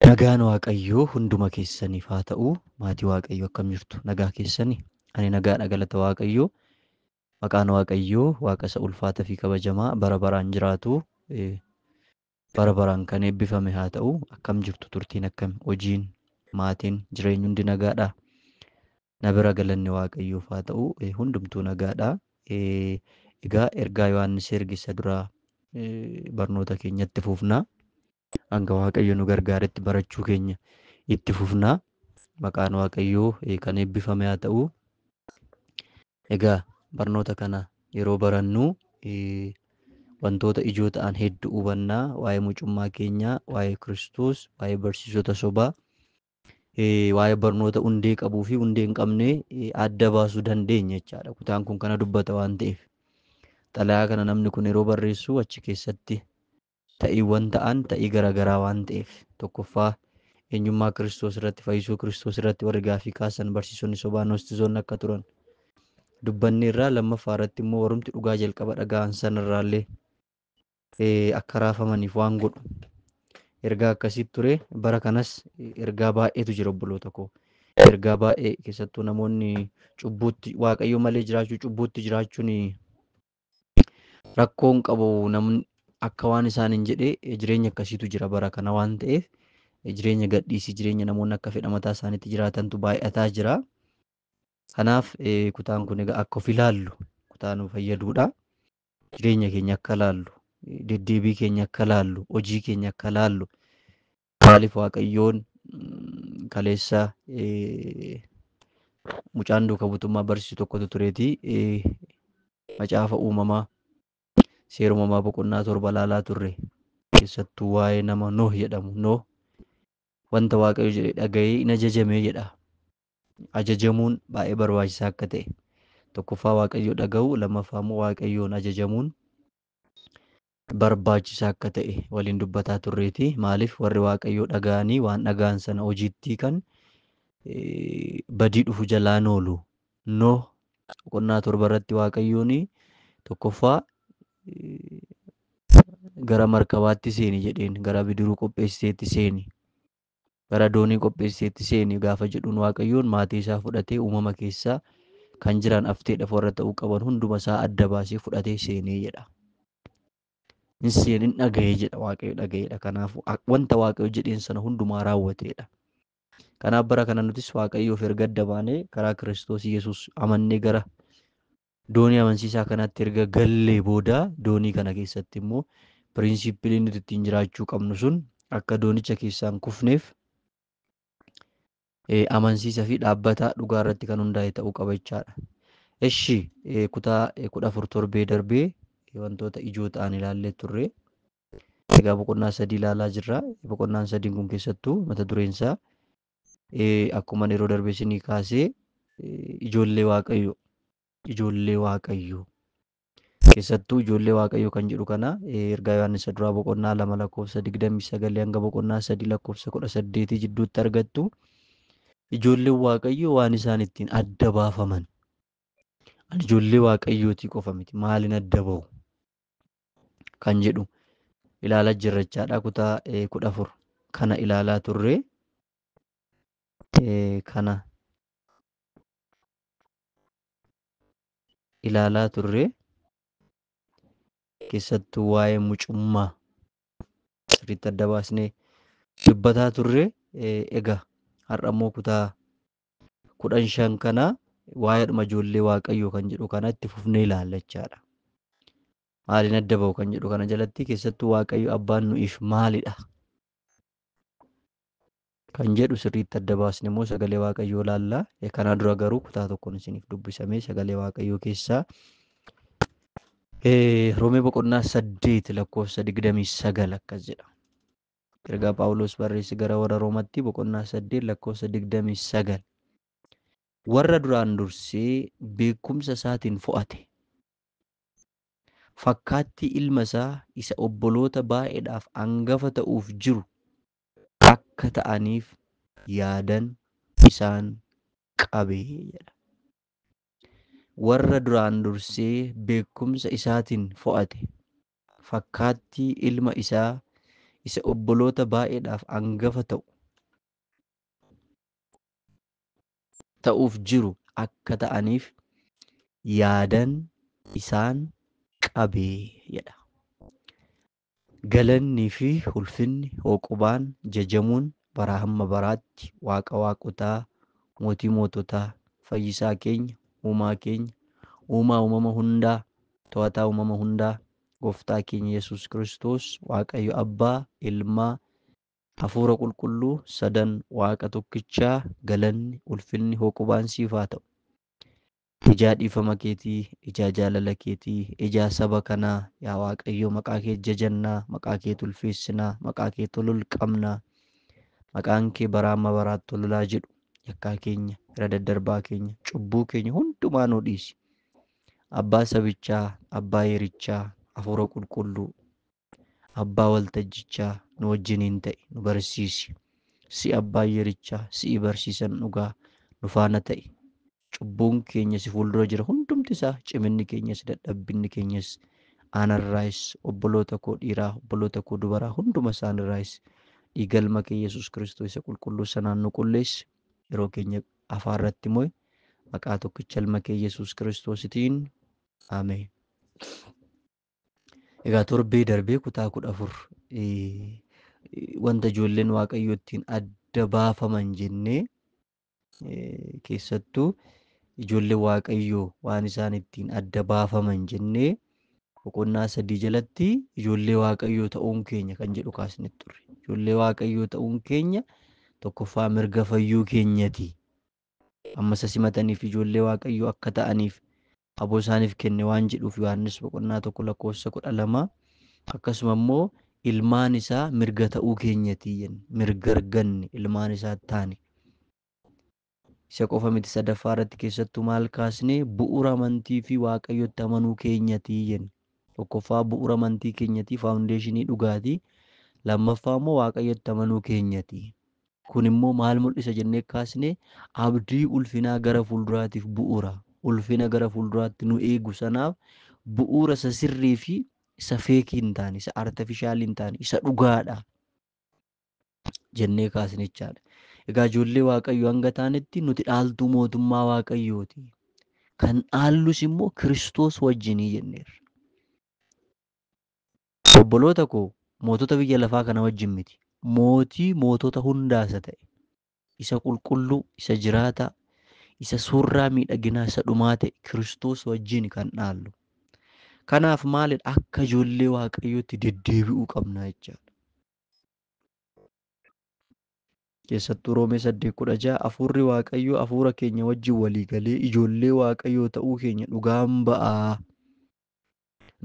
Nagaan Waaqayyoo hunduma keessaniif haa ta'u. Maatii Waaqayyoo akkam jirtu? Nagaa keessani? Ani nagaadha galata Waaqayyoo. Maqaan Waaqayyoo Waaqa isa ulfaata fi kabajamaa bara baraan jiraatu eh, bara baraan kan eebbifame haa ta'u. Akkam jirtu? Turtiin akkam? Hojiin, maatiin, jireenyi hundi nagaadha? Na bira galanni Waaqayyoof haa ta'u, hundumtuu nagaadha. Egaa ergaa Yohaannis erge isa duraa barnoota keenya itti fufna. Hanga Waaqayyo nu gargaaretti barachuu keenya itti fufna. Maqaan Waaqayyoo kan eebbifame haa ta'u. Egaa barnoota kana yeroo barannu wantoota ijoo ta'an hedduu hubanna. Waa'ee mucummaa keenyaa, waa'ee Kiristoos, waa'ee barsiisota sobaa, waa'ee barnoota hundee qabuu fi hundee hin qabne adda baasuu dandeenya jechaadha. Kutaan kun kana dubbata waan ta'eef. Xalayaa kana namni kun yeroo barreessu achi keessatti ta'iiwwan ta'an ta'ii garaagaraa waan ta'eef tokkoffaa eenyummaa kiristoos irratti fayyisuu kiristoos irratti warri gaafii kaasan barsiisonni sobaa noostizoonni akka turan dubbanne irraa lammaffaa irratti immoo warrumti dhugaa jalqaba dhaga'an sanarraallee akka raafamaniif waan godhu ergaa akkasii ture bara kanas ergaa baay'eetu jira obboloota koo ergaa baay'ee keessattuu namoonni cubbuutti waaqayyo malee jiraachuu cubbuutti jiraachuun rakkoon qabu namni akka waan isaan hin jedhe jireenya akkasiitu jira bara kana waan ta'eef jireenya gadhiisii jireenya namoonni akka fedha mataa isaaniitti jiraatantu baay'ataa jira. Kanaaf kutaan kun egaa akka of ilaallu kutaa nu fayyaduudha. jireenya keenya akka laallu, deddeebii keenya akka laallu, hojii keenya akka laallu maaliif Waaqayyoon mm, kaleessa eh, mucaan duuka butummaa barsiisu tokkotu tureeti eh, macaafa uumamaa seera uumamaa boqonnaa torba laalaa turre keessattuu waa'ee nama Nooh jedhamu Nooh wanta Waaqayyo jedhe dhaga'ee hin ajajamee jedha. ajajamuun baay'ee barbaachisaa akka ta'e tokkoffaa waaqayyoo dhaga'uu lammaffaa immoo waaqayyoon ajajamuun barbaachisaa akka ta'e waliin dubbataa turreeti maaliif warri waaqayyoo dhaga'anii waan dhaga'an sana hojiitti kan badii dhufu jalaa noolu noo boqonnaa torba irratti waaqayyoon tokkoffaa gara markabaatti seeni jedheen gara bidiruu qopheessiteetti seeni gara doonii qopheesseetti seeni gaafa jedhuun Waaqayyoon maatii isaa fudhatee uumama keessa kan jiran afteedhaaf warra ta'uu qaban hunduma isaa adda baasee fudhatee seenee jedha. Hin seenin dhaga'ee jedha Waaqayyo dhaga'eedha. Kanaafuu wanta Waaqayyo jedheen sana hundumaa raawwateedha. Kanaaf bara kana nutis Waaqayyoof erga adda baanee karaa Kiristoos Yesuus amannee gara Doonii amansiisaa kanatti erga gallee booda doonii kana keessatti immoo piriinsiippilii nuti ittiin jiraachuu qabnu sun akka doonicha keessaan kufneef eh, amansiisa fi dhaabbata dhugaa irratti kan hundaa'e ta'uu qaba jechaadha. Eshi eh, kutaa eh, kudha afur torbee darbee eh, wantoota ijoo ta'an ilaallee turre. Egaa boqonnaa sadii ilaalaa jirra. Boqonnaan sadiin kun keessattuu mata dureen isaa Akkuman yeroo darbe isinii kaasee ijoollee waaqayyo ijoollee waaqayyo keessattuu ijoollee waaqayyo kan jedhu kana ergaa Yohaannis isa duraa boqonnaa lama lakkoofsa digdamii sagalii hanga boqonnaa sadii lakkoofsa kudha saddeetii jidduutti argattu ijoolleen waaqayyo waan isaan ittiin adda baafaman ani ijoollee waaqayyootii qofa miti maaliin adda bahu kan jedhu ilaalaa jirra jechaadha. Kutaa eh, kudha afur kana ilaalaa turre eh, kana ilaalaa turre keessattuu waa'ee mucummaa sirriitti adda baasnee dubbataa turre eh, egaa har'a immoo kutaa kudhan shan kana waa'eedhuma ijoollee waaqayyoo kan jedhu kana itti fufnee ilaalla jechaadha. Maaliin adda ba'u kan jedhu kana jalatti keessattuu waaqayyo abbaan nu'iif maalidha? Kan jedhu sirriitti adda baasne immoo sagalee waaqayyoo ilaalla. Kanaa dura garuu kutaa tokkoon isiniif dubbisamee sagalee waaqayyoo keessaa Roomee boqonnaa saddeet lakkoofsa digdamii sagal akkas jedha. Ergaa Phaawulos barreesse gara warra Roomatti boqonnaa 8 lakkoofsa 29. Warra duraan dursee beekumsa isaatiin fo'ate. Fakkaattii ilma isaa isa obboloota baay'eedhaaf angafa ta'uuf jiru akka ta'aniif yaadan isaan qabe jedha. Warra duraan dursee beekumsa isaatiin fo'ate. fakkaattii ilma isaa isa obboloota baay'eedhaaf angafa ta'u ta'uuf jiru akka ta'aniif yaadan isaan qabe jedha. Galannii fi ulfinni hooqubaan jajamuun baraa hamma baraatti Waaqa waaqotaa, Mootii moototaa, Fayyisaa keenya, Uumaa keenya, Uumaa uumama hundaa, To'ataa uumama hundaa, Gooftaa keenya Yesuus Kiristoos, Waaqayyo Abbaa, Ilma, Hafuura Qulqulluu, sadan Waaqa tokkichaa, galanni, ulfinni, hooqubaan siif haa ta'u. Ijaa dhiifama keetii, ijaa jaalala keetii, ijaa saba kanaa, yaa Waaqayyo maqaa kee jajannaa, maqaa kee tulfeessinaa, maqaa kee tolul qabnaa. Maqaan kee baraa amma baraatti tolulaa jedhu. Yakkaa keenya, irra daddarbaa keenya, cubbuu keenya hundumaa nuu dhiisi. Abbaa sabichaa, Abbaa yerichaa, Hafuura Qulqulluu, Abbaa waltajjichaa nu wajjiniin ta'i, nu barsiisi. Si'i Abbaa yerichaa, si'i barsiisan dhugaa, nu faana ta'i. Cubbuun keenya si fuuldura jira hundumti isaa, ciminni keenyas, dadhabbinni keenyas, anarraayis, obboloota koo dhiiraa, obboloota koo dubaraa hunduma isaanirraayis dhiiga ilma kee Yesuus Kiristoo isa qulqulluu sanaan nu qulleessi. yeroo keenya afaan irratti mo'e maqaa tokkicha ilma kee Yesuus Kiristoositiin Ameen. Egaa torbee darbee kutaa kudha afur wanta ijoolleen waaqayyoo ittiin adda baafaman jennee keessattuu ijoollee waaqayyoo waan isaan ittiin adda baafaman jennee boqonnaa sadii jalatti ijoollee waaqayyoo ta'uun keenya kan jedhu kaasne turre. Ijoollee waaqayyoo ta'uun keenya tokkoffaa mirga fayyuu keenyati. Amma isa simataniif ijoollee waaqayyoo akka ta'aniif aboo isaaniif kenne waan jedhuuf Yohaannis boqonnaa tokko lakkoofsa kudha lama akkasuma immoo ilmaan isaa mirga ta'uu keenyati jenne mirga arganne ilmaan isaa taane. Isa qofa miti sadaffaa irratti keessattuu maal kaasne bu'ura amantii fi waaqayyotti amanuu keenyati jenne. Tokkoffaa bu'ura amantii keenyati faawundeeshinii dhugaati. Lammaffaa immoo waaqayyotti amanuu keenyati. Kun immoo maal mul'isa jennee kaasne abdii ulfinaa gara fuulduraatiif bu'ura. Ulfina gara fuulduraatti nu eegu sanaaf bu'uura isa sirrii fi isa feekii hin taane, isa artefishaalii hin taane, isa dhugaadha. jennee kaasne jechaadha. Egaa ijoollee Waaqayyoo hanga taanetti nuti dhaaltuu mootummaa Waaqayyooti. Kan dhaallus immoo Kiristoos wajjinii jenneerra. Obboloota koo mootota biyya lafaa kana wajjin miti. Mootii mootota hundaa isa ta'e, isa qulqulluu, isa jiraataa, isa suurraa miidhaginaa isa dhumaa ta'e Kiristoos wajjin kan dhaallu. Kanaaf maalidha akka ijoollee Waaqayyootti deddeebi'uu qabna jechaadha. Keessattuu Roomee 8:16 Hafuurri Waaqayyoo hafuura keenya wajjin walii galee ijoollee Waaqayyoo ta'uu keenya dhugaan ba'a.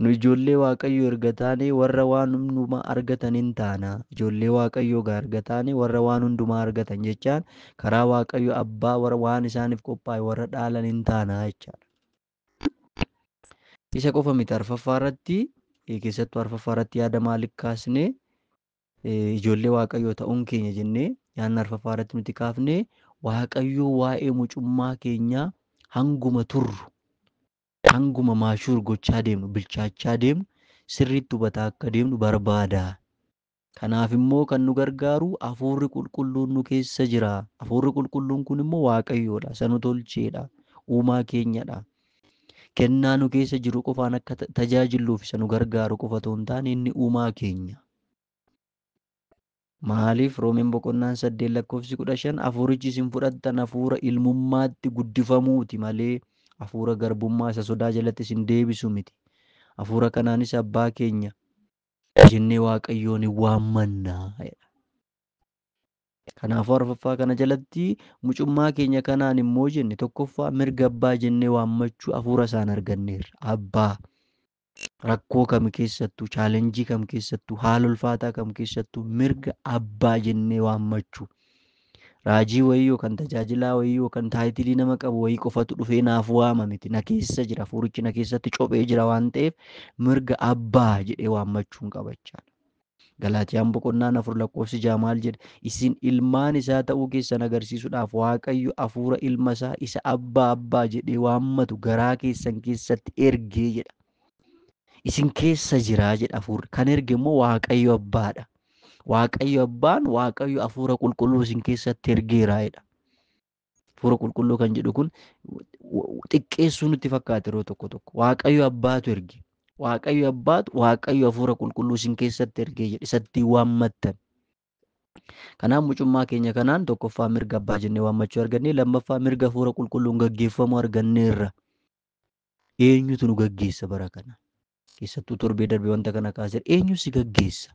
Nu ijoollee Waaqayyoo erga taanee warra waan hundumaa argatan in taana. Ijoollee Waaqayyoo egaa erga taanee warra waan hundumaa argatan jechaan karaa Waaqayyo Abbaa warra waan isaaniif qophaa'e warra dhaalan in taana jechaadha. Isa qofa miti arfaffaa irratti keessattuu arfaffaa irratti yaada maaliif kaasne ijoollee waaqayyoo ta'uun keenya jennee yaadni arfaffaa irratti nuti kaafne waaqayyoo waa'ee mucummaa keenyaa hanguma turru hanguma maashuur gochaa deemnu bilchaachaa deemnu sirriitti hubataa akka deemnu barbaada Kanaaf immoo kan nu gargaaru Hafuurri Qulqulluun nu keessa jira. Hafuurri Qulqulluun kun immoo Waaqayyoodha. Isa nu tolcheedha. Uumaa keenyadha. Kennaa nu keessa jiru qofaan akka ta- tajaajilluuf isa nu gargaaru qofa otoo hin taane inni uumaa keenya. Maaliif Roomeen boqonnaan saddeet lakkoofsi kudha shan hafuurichi isin fudhattan hafuura ilmummaatti guddifamuuti malee hafuura garbummaa isa sodaa jalatti isin deebisu miti. Hafuura kanaanis abbaa keenya jennee waaqayyoon hin waammanna jedha. Kanaafuu arfaffaa kana jalatti mucummaa keenya kanaan immoo jenne tokkoffaa mirga abbaa jennee waammachuu hafuura isaan arganneerra. Abbaa rakkoo kam keessattuu chaalenjii kam keessattuu haala ulfaataa kam keessattuu mirga abbaa jennee waammachuu Raajii wayii yookan tajaajilaa wayii yookan taayitilii nama qabu wayii qofatu dhufee naaf waama miti. Na keessa jira. Hafuurichi na keessatti cophee jira waan ta'eef mirga abbaa jedhee waammachuun qaba jechaadha. Galaatiyaan boqonnaan afur lakkoofsi ja'a maal jedha? Isin ilmaan isaa ta'uu keessan agarsiisuudhaaf Waaqayyo hafuura ilma isaa isa abbaa abbaa jedhee waammatu garaa keessan keessatti ergee jedha. Isin keessa jira jedha hafuurri. Kan erge immoo Waaqayyo Abbaadha. Waaqayyo Abbaan Waaqayyo hafuura qulqulluu isin keessatti ergeera jedha. Hafuura qulqulluu kan jedhu kun xiqqeessuu nutti fakkaata yeroo tokko tokko. Waaqayyo Abbaatu erge. Waaqayyo Abbaatu Waaqayyo hafuura qulqulluu isin keessatti ergee jedhe isatti waammattan. Kanaaf mucummaa keenya kanaan tokkoffaa mirga abbaa jennee waammachuu argannee lammaffaa mirga hafuura qulqulluun gaggeeffamuu arganneerra. Eenyutu nu gaggeessa bara kana? Keessattuu torbee darbe wanta kana kaasera. Eenyu si gaggeessa?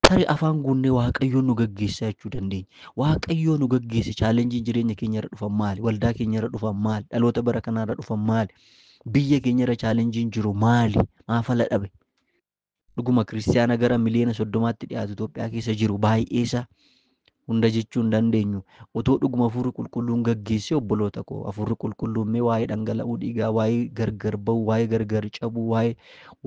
Tarii afaan guunnee Waaqayyoon nu gaggeessaa jechuu dandeenya. Waaqayyoo nu gaggeesse chaalenjiin jireenya keenya irra dhufan maali? Waldaa keenya irra dhufan maali? Dhaloota bara kanaa irra dhufan maali? Biyya keenya irra chaalenjiin jiru maali? Maaf ala dhabe? Dhuguma kiristiyaana gara miliyoona soddomaatti dhiyaatu Itoophiyaa keessa jiru baay'eesaa hunda jechuu hin dandeenyu. Otoo dhuguma hafuurri qulqulluun gaggeessee obboloota koo hafuurri qulqulluun mee waa'ee dhangala'uu dhiigaa, waa'ee gargar ba'uu, waa'ee gargar cabuu, waa'ee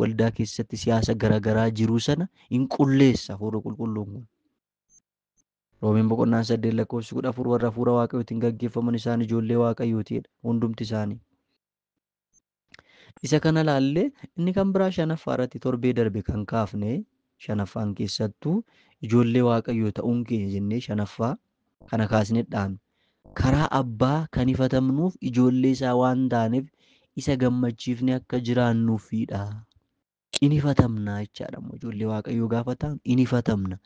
waldaa keessatti siyaasa garaagaraa jiruu sana hin qulleessa hafuurri qulqulluun kun. Roomeen boqonnaan saddeet lakkoofsi kudha afur warra hafuura waaqayyootiin gaggeeffaman isaan ijoollee waaqayyootiidha hundumti isaanii. Isa kana ilaallee inni kan biraa shanaffaa irratti torbee darbe kan kaafne shanaffaan keessattuu ijoollee waaqayyoo ta'uun keenya jennee shanaffaa kana kaasnedhaan karaa abbaa kan ifatamnuuf ijoollee isaa waan taaneef isa gammachiifne akka jiraannuufidha. In ifatamna jechaadha immoo ijoollee waaqayyoo gaafa ta'an in ifatamna.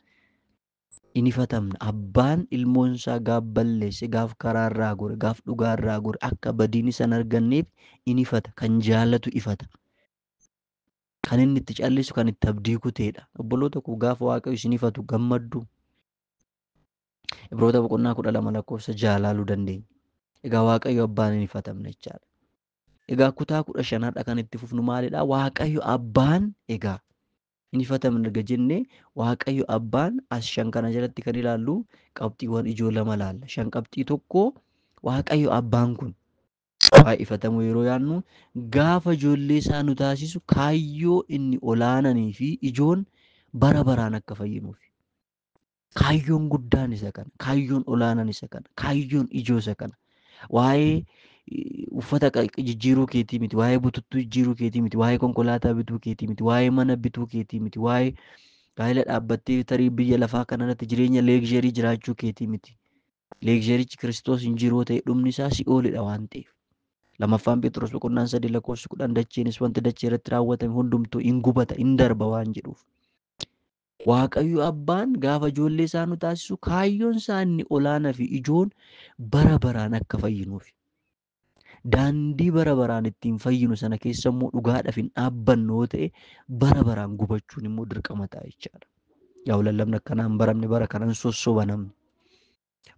hin ifatamne. Abbaan ilmoon isaa gaaf balleesse, gaaf karaa irraa gore, gaaf dhugaa irraa gore akka badiin isa hin arganneef hin ifata. Kan jaalatu ifata. Kan inni itti callisu kan itti abdii kuteedha. Obboloota koo gaafa Waaqayyo isin ifatu gammaddu. Ibroota boqonnaa kudha lama lakkoofsa ja'a ilaaluu dandeenya. Egaa Waaqayyo abbaan hin ifatamne jechaadha. Egaa kutaa kudha shan har'a kan itti fufnu maalidha? Waaqayyo abbaan egaa hin hifatamne erga jenne Waaqayyo abbaan as shan kana jalatti kan ilaallu qabxiiwwan ijoo lama laalla. Shan qabxii tokko Waaqayyo abbaan kun waa'ee ifatamuu yeroo yaannu gaafa ijoollee isaa nu taasisu kaayyoo inni olaananii fi ijoon bara baraan akka fayyinuuf. Kaayyoon guddaan isa kana. Kaayyoon olaanaan isa kana. Kaayyoon ijoo isa kana. Waa'ee eh, uffata qa- jijjiiruu keetii miti. Waa'ee bututtuu jijjiiruu keetii miti. Waa'ee konkolaataa bituu keetii miti. Waa'ee mana bituu keetii miti. Waa'ee gaa'ela dhaabbattee tarii biyya lafaa kanarratti jireenya leegzherii jiraachuu keetii miti. Leegzherichi Kiristoos hin jiruu ta'e dhumni isaa si'oolidha waan ta'eef. Lamaffaan Phexros boqonnaan sadii lakkoofsi kudhan dacheenis wanti dachee irratti raawwatame hundumtuu in gubata in darba waan jedhuuf. Waaqayyo Abbaan gaafa ijoollee isaa nu taasisu kaayyoon isaa inni olaanaa fi ijoon bara baraan akka fayyinuufi. Daandii bara baraan ittiin fayyinu sana keessa immoo dhugaadhaaf hin dhaabbannu yoo ta'e bara baraan gubachuun immoo dirqama ta'a jechaadha. Yaa lallabni akkanaa hin baramne bara kanan sossoba namni.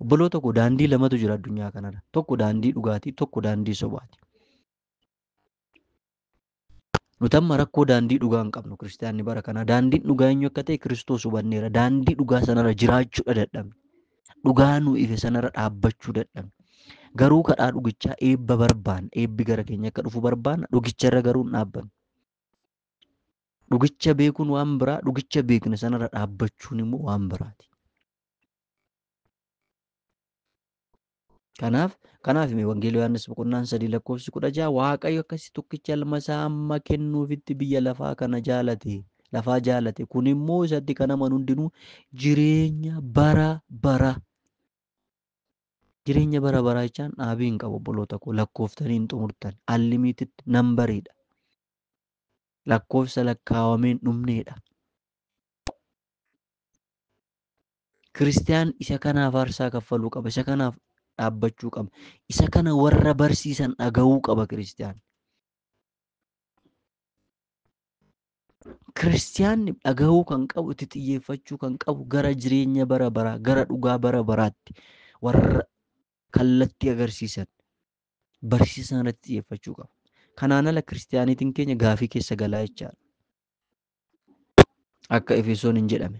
Obboloota koo daandii lamatu jira addunyaa kanarra. Tokko daandii dhugaati, tokko daandii sobaati. Nuti amma rakkoo daandii dhugaa hin qabnu kiristaanni bara kanaa. Daandiin dhugaa eenyu akka ta'e Kiristoos hubanneera. Daandii dhugaa sanarra jiraachuudha dadhabne. Dhugaa nu ife sanarra dhaabbachuu dadhabne. Garuu kadhaa dhugichaa eebba barbaanna. Eebbi gara keenya akka dhufu barbaanna. Dhugicharra garuu hin dhaabbannu. Dhugicha beekuun waan biraa, dhugicha beekne sanarra dhaabbachuun immoo waan biraati. Kanaaf kanaaf mee wangeela Yohaannis boqonnaan sadii lakkoofsi kudha jaha Waaqayyo akkasi tokkicha ilma isaa amma kennuufitti biyya lafaa kana jaalate lafaa jaalate kun immoo isatti kan amanu hundinuu jireenya bara bara jireenya bara baraa jechaan dhaabii hin qabu obboloota koo lakkooftanii hin xumurtan allimiitti nambariidha lakkoofsa lakkaawameen dhumneedha. Kiristiyaan isa kanaaf aarsaa kaffaluu qaba. Isa kanaaf dhaabbachuu qaba. Isa kana warra barsiisan dhaga'uu qaba Kiristiyaan. Kiristiyaanni dhaga'uu kan qabu, itti xiyyeeffachuu kan qabu gara jireenya bara baraa, gara dhugaa bara baraatti warra kallattii agarsiisan barsiisa sana irratti xiyyeeffachuu qaba. Kanaan ala kiristiyaaniitiin keenya gaafii keessa galaa jechaadha. Akka Efesoon hin jedhame.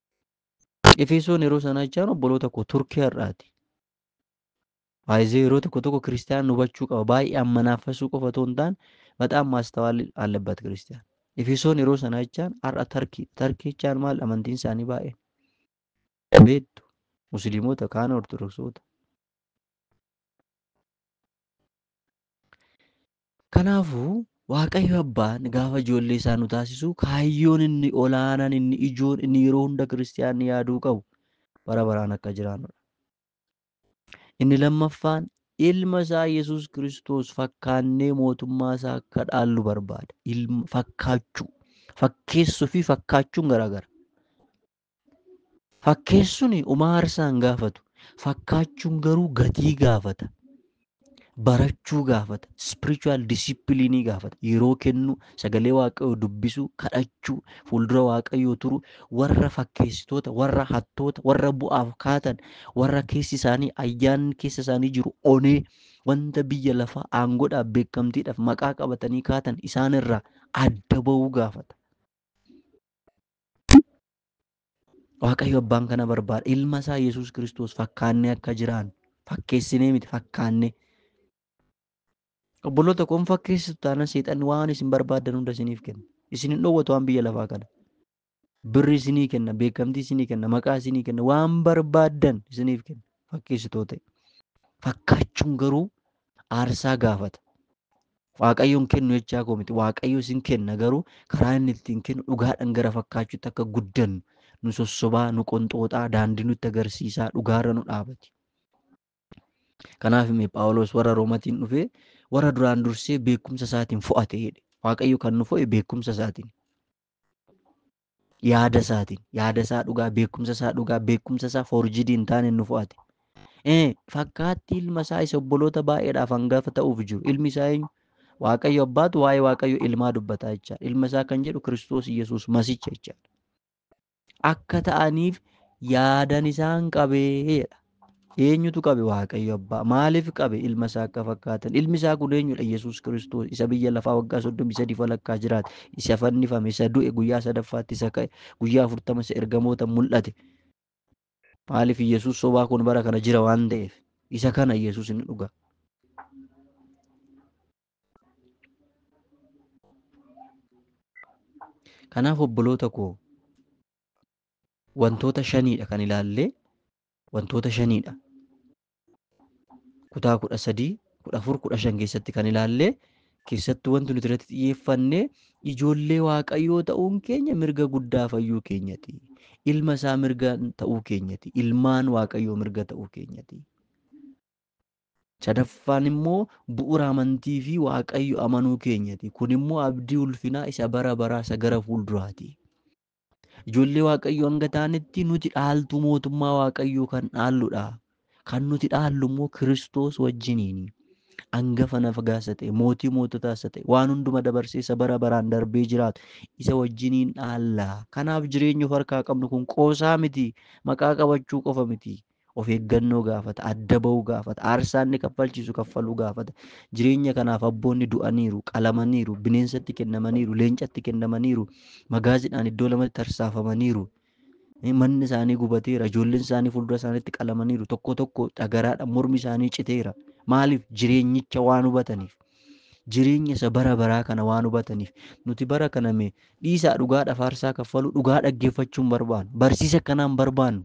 Efesoon yeroo sana jechaan obboloota koo turkii har'aati. Baay'ee yeroo tokko tokko kiristaanaan hubachuu qaba. Baay'ee ammanaafasuu qofa otoo hin taane bataam maastawaalli allabbat kiristaan. Efesoon yeroo sana jechaan har'a tarkii. Tarkii jechaan maal amantiin isaanii baay'ee. Beektu musliimota kaan ortodoksoota. Kanaafuu, Waaqayyo Abbaan gaafa ijoollee isaa nu taasisu kaayyoon inni olaanaan, inni ijoon, inni yeroo hunda kiristiyaanni yaaduu qabu bara baraan akka jiraannu dha. Inni lammaffaan ilma isaa Yesuus Kiristoos fakkaannee mootummaa isaa akka dhaallu barbaada. Ilma fakkaachuu, fakkeessuu fi fakkaachuun garaagara. Fakkeessuun homaa aarsaa hin gaafatu. Fakkaachuun garuu gatii gaafata. Barachuu gaafata. Spiritual discipline gaafata. Yeroo kennuu, sagalee waaqayyoo dubbisuu, kadhachuu, fuuldura waaqayyoo turuu, warra fakkeessitoota, warra hattoota, warra bu'aaf kaatan, warra keessi isaanii ayyaanni keessa isaanii jiru onee wanta biyya lafaa aangoodhaaf beekamtiidhaaf maqaa qabatanii kaatan isaanirraa adda ba'uu gaafata. Waaqayyo abbaan kana barbaada. Ilma isaa Yesuus Kiristoos fakkaannee akka jiraannu fakkeessinee miti fakkaannee. Obboloota kun fakkeessitu taanaan seexanni waan isin barbaaddan hunda isiniif kenna. Isin hin dhoowwatu waan biyya lafaa kana. Birri isinii kenna, beekamtii isinii kenna, maqaa isinii kenna, waan barbaaddan isiniif kenna. Fakkeessitoota. Fakkaachuun garuu aarsaa gaafata. Waaqayyoon kennu jechaa koo miti. Waaqayyo isin kenna garuu karaa inni ittiin kennu dhugaadhaan gara fakkaachuutti akka guddannu nu sossobaa, nu qonxooxaa, daandii nutti agarsiisaa, dhugaarra nu dhaabati. Kanaaf mee Phaawulos warra Roomatiin dhufee warra duraan dursee beekumsa isaatiin fo'ate jedhe. Waaqayyo kan nu fo'e beekumsa isaatiin. yaada isaatiin yaada isaa dhugaa beekumsa isaa dhugaa beekumsa isaa forjidii hin taane nu fo'ate. Ee fakkaatti ilma isaa isa obboloota baay'eedhaaf hangafa ta'uuf jiru ilmi isaa eenyu? Waaqayyo abbaatu waa'ee Waaqayyo ilmaa dubbataa jechaadha. Ilma isaa kan jedhu Kiristoos Yesuus masicha jechaadha. Akka ta'aniif yaadan isaan qabee jedha. Eenyutu qabe? Waaqayyo Abbaa. Maaliif qabe? Ilma isaa akka fakkaatan. Ilmi isaa kun eenyudha? Yesuus Kiristoos isa biyya lafaa waggaa soddomii sadii walakkaa jiraate, isa fannifame, isa du'e, guyyaa sadaffaatti isa ka'e, guyyaa afurtama isa ergamoota mul'ate. Maaliif Yesuus sobaa kun bara kana jira waan ta'eef. Isa kana Yesuus inni dhugaa. Kanaaf obboloota koo wantoota shaniidha kan ilaallee wantoota shaniidha. Kutaa kudha sadii, kudha afur, kudha shan keessatti kan ilaallee keessattuu wanti nuti irratti xiyyeeffanne ijoollee waaqayyoo ta'uun keenya mirga guddaa fayyuu keenyati. Ilma isaa mirga ta'uu keenyati. Ilmaan waaqayyoo mirga ta'uu keenyati. Sadaffaan immoo bu'uura amantii fi waaqayyo amanuu keenyati. Kun immoo abdii ulfinaa isa bara baraa isa gara fuulduraati. Ijoollee Waaqayyoo hanga taanetti nuti dhaaltuu mootummaa Waaqayyoo kan dhaalludha. Kan nuti dhaallu immoo Kiristoos wajjiniini. Angafa nafagaa isa ta'e, mootii moototaa isa ta'e, waan hunduma dabarsee isa bara baraan darbee jiraatu isa wajjiniin dhaalla. Kanaaf jireenya of harkaa qabnu kun qoosaa miti, maqaa qabachuu qofa miti. Of eeggannoo gaafata, adda ba'uu gaafata, aarsaa inni kaffalchiisu kaffaluu gaafata. Jireenya kanaaf abboonni du'aniiru, qalamaniiru, bineensatti kennamaniiru, leencatti kennamaniiru, magaaziidhaan iddoo lamatti tarsaafamaniiru. Manni isaanii gubateera, ijoolleen isaanii fuuldura isaaniitti qalamaniiru, tokko tokko dhagaraadhaan mormi isaanii citeera. Maaliif? Jireenyicha waan hubataniif. Jireenya isa bara baraa kana waan hubataniif. Nuti bara kana mee dhiisaa dhugaadhaaf aarsaa kaffaluu, dhugaa dhaggeeffachuu hin barbaannu. Barsiisa akkanaa hin barbaannu.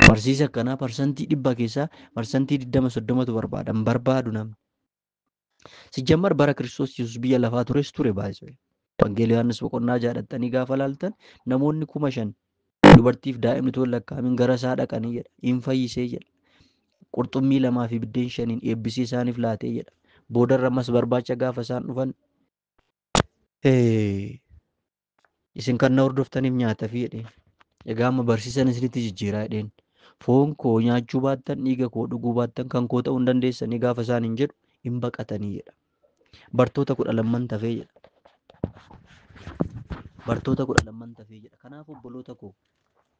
Barsiisa akkanaa parsantii dhibba keessaa parsantii 20 30tu barbaada hin barbaadu namni. Sijjammar bara Kiristoos Yesuus biyya lafaa tures ture baay'isee. Wangeela Yohaannis boqonnaa ja'a dhaqxanii gaafa laaltan namoonni kuma shan dubartiif daa'imni toon lakkaa'amin gara isaa dhaqanii jedha. Hin fayyisee jedha. Qurxummii lamaa fi biddeen shaniin eebbisee isaaniif laatee jedha. Boodarra ammas barbaacha gaafa isaan dhufan eh, Isin kan na hordoftaniif nyaatafi jedheen. Egaa amma barsiisan isinitti jijjiiraa jedheen. Foon koo nyaachuu baattan dhiiga koo dhuguu baattan kan koo ta'uu hin dandeessanii gaafa isaan hin jedhu hin baqatanii jedha. Bartoota kudha lamman tafee jedha. Bartoota kudha lamman tafee jedha. Kanaaf obboloota koo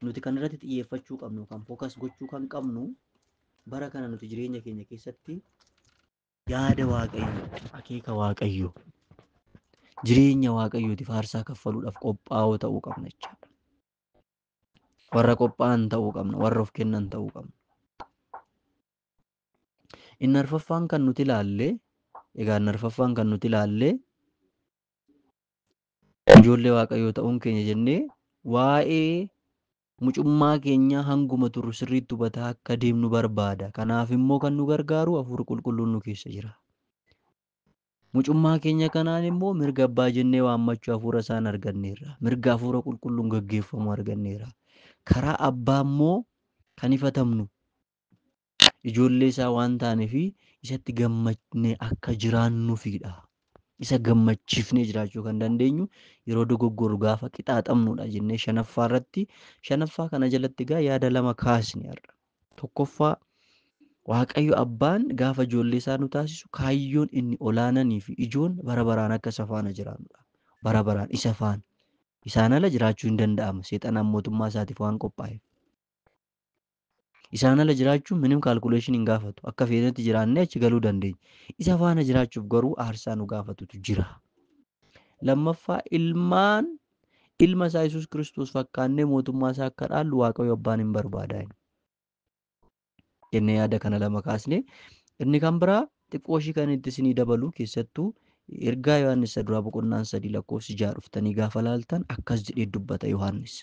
nuti kan irratti xiyyeeffachuu qabnu kan fookas gochuu kan qabnu bara kana nuti jireenya keenya keessatti yaada waaqayyoo akeeka waaqayyoo jireenya waaqayyooti faarsaa kaffaluudhaaf qophaa'oo ta'uu qabna jechaadha. Warra qophaa'an ta'uu qabna, warra of kennan ta'uu qabna. Inni arfaffaan kan nuti ilaalle, egaa inni arfaffaan kan nuti ilaalle ijoollee waaqayyoo ta'uun keenya jennee waa'ee Mucummaa keenya hanguma turru sirriitti hubataa akka deemnu barbaada. Kanaaf immoo kan nu gargaaru Hafuurri Qulqulluun nu keessa jira. Mucummaa keenya kanaan immoo mirga abbaa jennee waammachuu Hafuura isaan arganneerra. Mirga Hafuura Qulqulluun gaggeeffamuu arganneera. Karaa abbaa immoo kan ifatamnu ijoollee isaa waan taaneef isatti gammadnee akka jiraannuufidha. Isa gammachiifnee jiraachuu kan dandeenyu yeroo dogoggorru gaafa qixaaxamnudha jennee shanaffaa irratti shanaffaa kana jalatti egaa yaada lama kaasne har'a. Tokkoffaa Waaqayyo abbaan gaafa ijoollee isaa nu taasisu kaayyoon inni olaananii fi ijoon bara baraan akka isa faana jiraannudha. Bara baraan isa faana. Isaan ala jiraachuu hin danda'amu. Seexanaan mootummaa isaatiif waan qophaa'eef. Isaan ala jiraachuun minim calculation hin gaafatu. Akka feenetti jiraannee achi galuu dandeenya. Isa faana jiraachuuf garuu aarsaa nu gaafatutu jira. Lammaffaa ilmaan ilma isaa Yesuus Kiristoos fakkaannee mootummaa isaa akka dhaallu Waaqayyo abbaan hin barbaada. Jennee yaada kana lama kaasne. Inni kan biraa Xiqqooshii kan itti isinii dabalu keessattuu ergaa Yohaannis isa duraa boqonnaan sadii lakkoofsi ja'a dhuftanii gaafa laaltan akkas jedhee dubbata Yohaannis.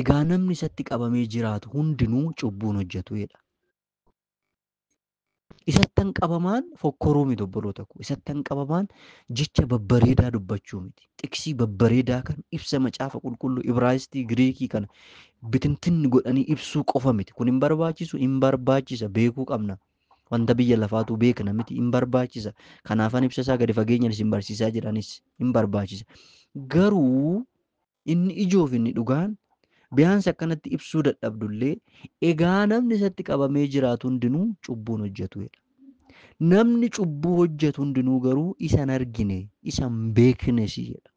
Egaa namni isatti qabamee jiraatu hundinuu cubbuun hojjetu jedha. Isattan qabamaan fokkoruu miti obboloota koo. Isattan qabamaan jecha babbareedaa dubbachuu miti. Xiqsii babbareedaa kan ibsa macaafa qulqulluu Ibraayistii Giriikii kana bitintinni godhanii ibsuu qofa miti. Kun hin barbaachisu hin barbaachisa beekuu qabna. Wanta biyya lafaatuu beekna miti, hin barbaachisa. Kanaafan ibsa isaa gadi fageenyaan isin barsiisaa jira anis, hin barbaachisa. Garuu inni ijoo fi inni dhugaan biyaansi akkanatti ibsuu dadhabdullee egaa namni isatti qabamee jiraatu hundinuu cubbuun hojjetu jedha. Namni cubbuu hojjetu hundinuu garuu isa hin argine, isa hin beeknes jedha.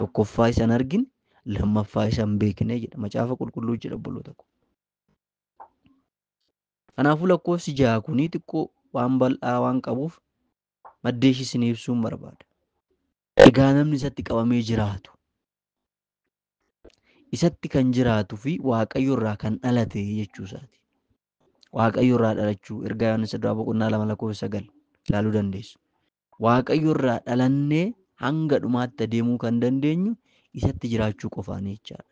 Tokkoffaa isa hin argine, lammaffaa isa hin beekne jedha. Macaafa qulqulluu jedha obboloota koo. Kanaafuu lakkoofsi ja'a kunii xiqqoo waan bal'aa waan qabuuf maddee ishii isinii ibsuun barbaada. Egaa namni isatti qabamee jiraatu, isatti kan jiraatu fi Waaqayyo irraa kan dhalate jechuu isaati. Waaqayyo irraa dhalachuu ergaa Yohaannis duraa boqonnaa lama lakkoofsa sagal ilaaluu dandeessu. Waaqayyo irraa dhalannee hanga dhumaatti adeemuu kan dandeenyu isatti jiraachuu qofaanii jechaadha.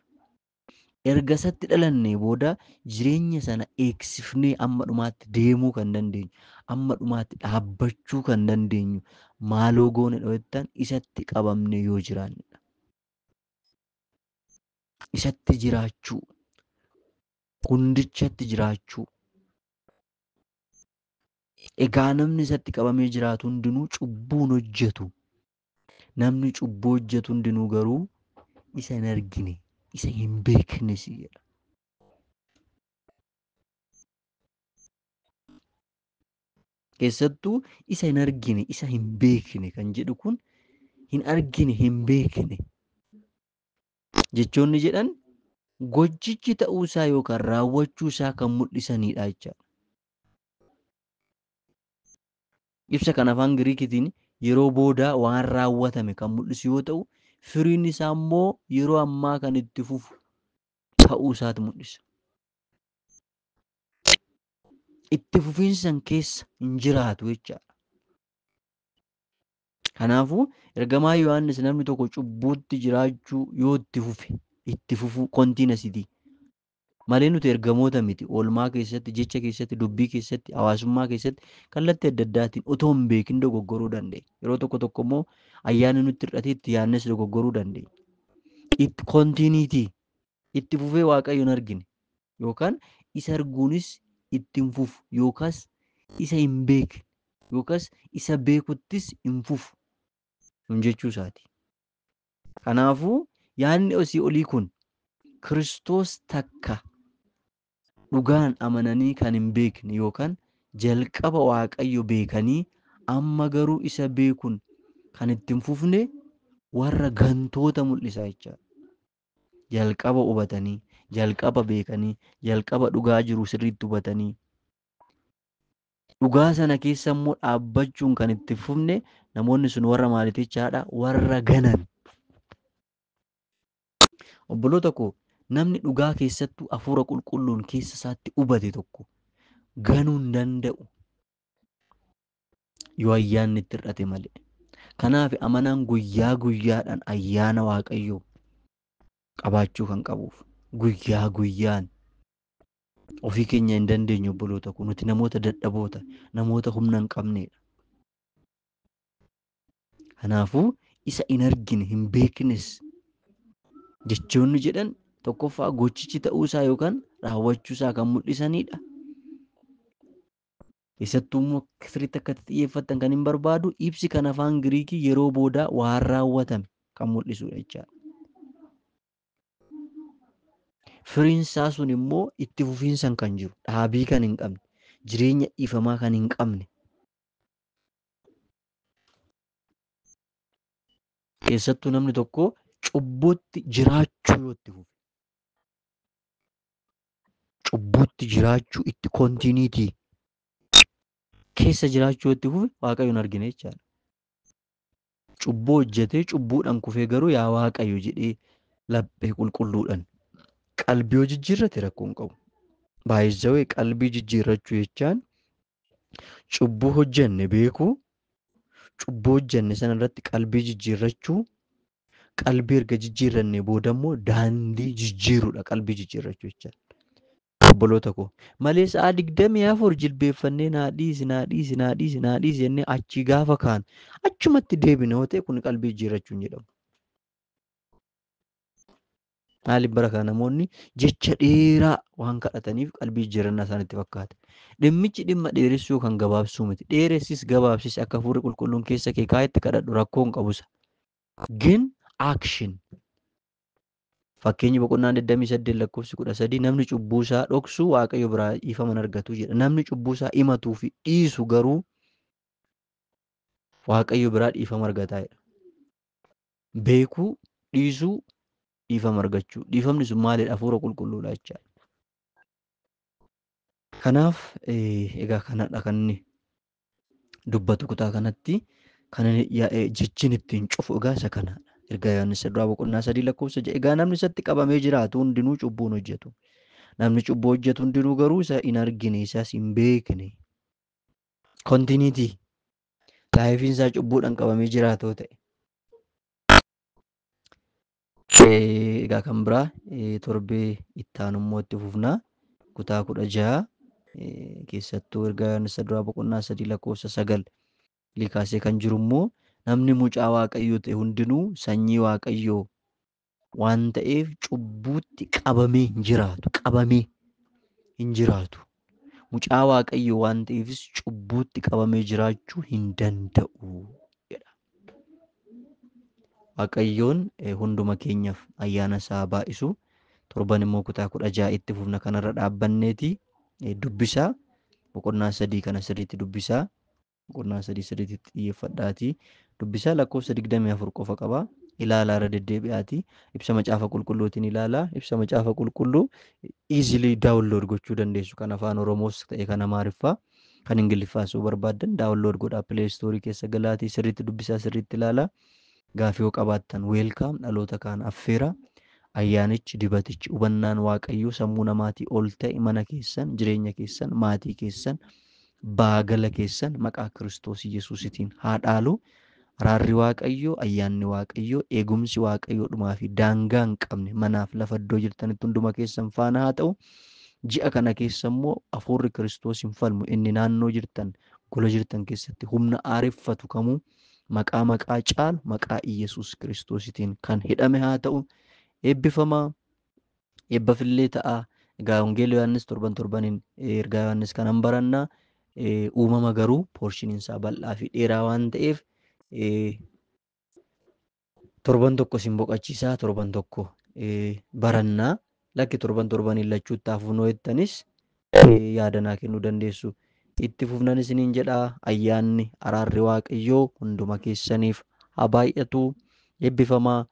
Erga isatti dhalannee booda jireenya sana eegsifnee amma dhumaatti deemuu kan dandeenyu, amma dhumaatti dhaabbachuu kan dandeenyu maaloo goone yoo jettan isatti qabamnee yoo jiraannedha. Isatti jiraachuu, hundichatti jiraachuu. Egaa namni isatti qabamee jiraatu hundinuu cubbuun hojjetu. Namni cubbuu hojjetu hundinuu garuu isa hin argine, isa hin beeknes jedha. Keessattuu isa hin argine, isa hin beekne kan jedhu kun hin argine, hin beekne jechoonni jedhan gochichi ta'uu isaa yookaan raawwachuu isaa kan mul'isanidha jechaadha. Ibsa kan afaan Giriikitiin yeroo booda waan raawwatame kan mul'isu yoo ta'u, firiin isaa immoo yeroo ammaa kan itti fufu ta'uu isaati mul'isa. Itti fufiinsi san keessa hin jiraatu jechaadha. Kanaafuu ergamaa Yohaannis namni tokko cubbuutti jiraachuu yoo itti fufe, itti fufuu kontiinasitii malee nuti ergamoota miti. Oolmaa keessatti, jecha keessatti, dubbii keessatti, hawaasummaa keessatti kallattii adda addaatiin otoo hin beekin dogoggoruu dandeenya. Yeroo tokko tokko immoo ayyaanni nutti hir'atee itti yaadnes dogoggoruu dandeenya. Itti kontiiniitii itti fufee Waaqayyo hin argine yookaan isa arguunis itti hin fufu yookaas isa hin beekne yookaas isa beekuttis hin fufu nun jechuu isaati. Kanaafuu, yaadni asii olii kun Kiristoos takka dhugaan amananii kan hin beekne yookaan jalqaba Waaqayyo beekanii amma garuu isa beekun kan itti hin fufne warra gantoota mul'isa jechaadha. Jalqaba hubatanii, jalqaba beekanii, jalqaba dhugaa jiru sirriitti hubatanii Dhugaa sana keessa immoo dhaabbachuun kan itti hin fufne namoonni sun warra maaliiti jechaadha? Warra ganan. Obboloota koo namni dhugaa keessattuu hafuura qulqulluun keessa isaatti hubate tokko ganuu hin danda'u. Yoo ayyaanni itti hir'ate malee. Kanaaf amanaan guyyaa guyyaadhaan ayyaana Waaqayyoo qabaachuu kan qabuuf guyyaa guyyaan Ofii keenya hin dandeenyu obboloota koo nuti namoota dadhaboota namoota humna hin qabneedha. Kanaafuu isa hin argine hin beeknes jechoonni jedhan tokkoffaa gochichi ta'uu isaa yookaan raawwachuu isaa kan mul'isanidha. Keessattuu immoo sirriitti akka itti xiyyeeffattan kan hin barbaadu ibsi kan afaan Giriikii yeroo boodaa waan raawwatame kan mul'isudha jechaadha. Firiin isaa sun immoo itti fufiinsan kan jiru, dhaabii kan hin qabne, jireenya dhiifamaa kan hin qabne. Keessattuu namni tokko cubbuutti jiraachuu yoo itti fufe, cubbuutti jiraachuu itti kontiiniitii keessa jiraachuu yoo itti fufe waaqayyoon argina jechaadha. Cubbuu hojjetee cubbuudhaan kufee garuu yaa Waaqayyo jedhee laphee qulqulluudhaan qalbii yoo jijjiirrate rakkoo hin qabu. Baay'isawee qalbii jijjiirrachuu jechaan cubbuu hojjenne beekuu, cubbuu hojjenne sana irratti qalbii jijjiirrachuu, qalbii erga jijjiirrannee booda immoo daandii jijjiiruudha qalbii jijjiirrachuu jechaan. Obboloota koo malee sa'a digdamii afur jilbeeffannee naa dhiisi naa dhiisi naa dhiisi naa dhiisi jennee achii gaafa kaanu achumatti deebine yoo ta'e kun qalbii jijjiirrachuu hin jedhamu. Maaliif bara kana namoonni jecha dheeraa waan kadhataniif qalbii jijjiirrannaa isaanitti fakkaata. Dhimmichi dhimma dheeressuu kan gabaabsuu miti. Dheeressis gabaabsis akka hafuurri qulqulluun keessa kee kaa'etti kadhadhu rakkoo hin qabusa. Gin action. Fakkeenyi boqonnaan 28 lakkoofsi 13 namni cubbuu isaa dhoksu Waaqayyo biraa dhiifama hin argatu jedha. Namni cubbuu isaa himatuu fi dhiisu garuu Waaqayyo biraa dhiifama argataa jedha. Beekuu, dhiisuu, dhiifama argachuu. Dhiifamni sun maalidha? Hafuura qulqulluudha jechaadha. Kanaaf eh, egaa kanadha kan inni dubbatu kutaa kanatti kan inni ya- eh, jechin ittiin cufu egaa isa kanaadha. Ergaa Yohaannis duraa boqonnaa sadii lakkoofsa ja'a egaa namni isatti qabamee jiraatu hundinuu cubbuun hojjetu. Namni cubbuu hojjetu hundinuu garuu isa hin argine isas hin beekne. Kontiiniitii laayifiin isaa cubbuudhaan qabamee jiraatoo ta'e. Egaa kan biraa torbee itti aanu immoo itti fufna. Kutaa kudha jaha keessattuu erga Yohaannis duraa boqonnaa sadii lakkoofsa sagal ilii kaasee kan jiru immoo namni mucaa waaqayyoo ta'e hundinuu sanyii waaqayyoo waan ta'eef cubbuutti qabamee hin jiraatu. Qabamee hin jiraatu. Mucaa Waaqayyoo waan ta'eefis cubbuutti qabamee jiraachuu hin danda'u jedha. Waaqayyoon eh, hunduma keenyaaf ayyaana isaa baay'isu. Torban immoo kutaa kudha ja'a itti fufna kanarra dhaabbanneeti eh, dubbisaa boqonnaa sadii kana sirriitti dubbisaa. boqonnaa sadii sirriitti xiyyeeffadhaatii dubbisaa lakkoofsa 24 qofa qaba. Ilaalaa irra deddeebi'aatii ibsa macaafa qulqulluutiin ilaalaa ibsa macaafa qulqulluu easily download gochuu dandeessu kan afaan Oromoos ta'e kan Amaariffaa kan Ingiliffaas yoo barbaaddan download godhaa play store keessa galaatii sirriitti dubbisaa sirriitti ilaalaa gaafii yoo qabaattan welcome dhaloota kaan affeeraa ayyaanichi dibatichi hubannaan waaqayyoo sammuu namaatii ol ta'e mana keessan jireenya keessan maatii keessan Baagala keessan maqaa Kiristoos Yesuusitiin haa dhaalu. Araarri Waaqayyoo, Ayyaanni Waaqayyoo, Eegumsi Waaqayyoo dhumaa fi daangaa hin qabne manaaf lafa iddoo jirtanitti hunduma keessan faana haa ta'u. Ji'a kana keessa immoo Hafuurri Kiristoos hin falmu inni naannoo jirtan, gola jirtan keessatti humna aareffatu kamuu maqaa maqaa caalu maqaa Iyyasuus Kiristoositiin kan hidhame haa ta'u. Eebbifamaa! Eebbaf illee ta'a. Egaa Wangeela Yohaannis torban torbaniin ergaa Yohaannis kanan baranna. Uumama garuu poorshiniin isaa bal'aa fi dheeraa waan ta'eef torban tokko isin boqachiisaa torban tokko baranna. Lakki torban torbaniin lachuutti hafuunoo jettanis yaada naa kennuu dandeessu. Itti fufnan isiniin jedha. Ayyaanni, araarri Waaqayyoo hunduma keessaniif haa baay'atu. Eebbifamaa.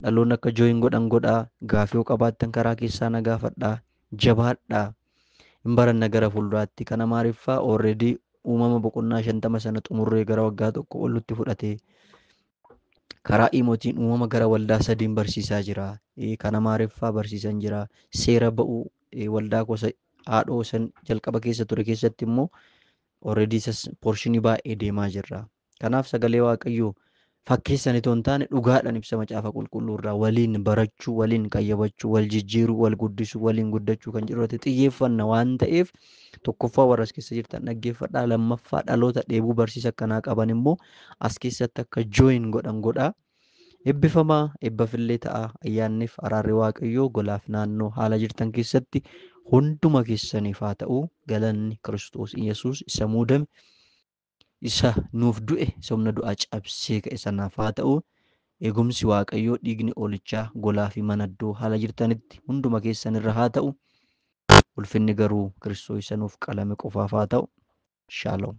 Dhaloonni akka join godhan godhaa. Gaafii yoo qabaattan karaa keessaa na gaafadhaa. Jabaadhaa. Hin baranna gara fuulduraatti. Kan Amaariffaa already uumama boqonnaa shantama sana xumurree gara waggaa tokko ol nutti fudhate. Karaa iimootiin uumama gara waldaa sadiin barsiisaa jira. Kan Amaariffaa barsiisan jira. Seera ba'uu waldaa koo isa haadhoo isan jalqaba keessa ture keessatti immoo already isas poorshinii baay'ee deemaa jirra. Kanaaf sagalee waaqayyoo fakkeessan itoo hin taane dhugaadhaan ibsa macaafa qulqulluu irraa waliin barachuu, waliin qayyabachuu, wal jijjiiruu, wal guddisuu, waliin guddachuu kan jedhu irratti xiyyeeffanna waan ta'eef tokkoffaa warra as keessa jirtan dhaggeeffadhaa lammaffaa dhaloota dheebuu barsiisa akkanaa qaban immoo as keessatti akka join godhan godhaa. Ebbifamaa ebbafillee ta'aa ayyaannif araarri waaqayyoo golaaf naannoo haala jirtan keessatti hunduma keessaniif haa ta'u galanni kiristoos iyesuus isa muudame isa nuuf du'e isa humna du'aa cabsee ka'e sanaaf haa ta'u eegumsi waaqayyoo dhiigni oolichaa golaa fi manaddoo haala jirtanitti hunduma keessanirra haa ta'u ulfinni garuu kiristoos isa nuuf qalame qofaaf haa ta'u shaaloom.